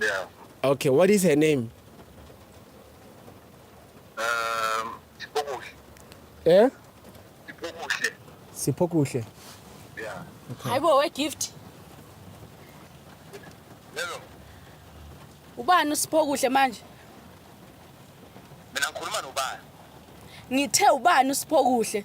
Yeah. Okay, what is her name? Um, Sipokuhle. Eh? Sipokuhle. Sipokuhle. Yeah. Okay. Hayibo we gift. Hello. Ubani uSipokuhle manje? Mina ngikhuluma nobani? Ngithe ubani uSipokuhle?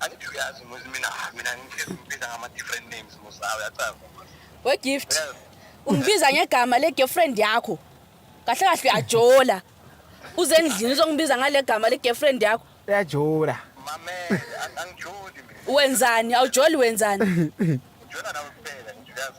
angithi uyazi muzi mina mina ngikhetha ukubiza ngama-different names musawe yacaza wegift ungibiza ngegama le-girlfriend yakho kahle kahle uyajola uze endlini uzongibiza ngale gama le-girlfriend yakho uyajola mamele ang- angijoli mina wenzani awujoli wenzani ngijola nawe kuphela ngijuyazi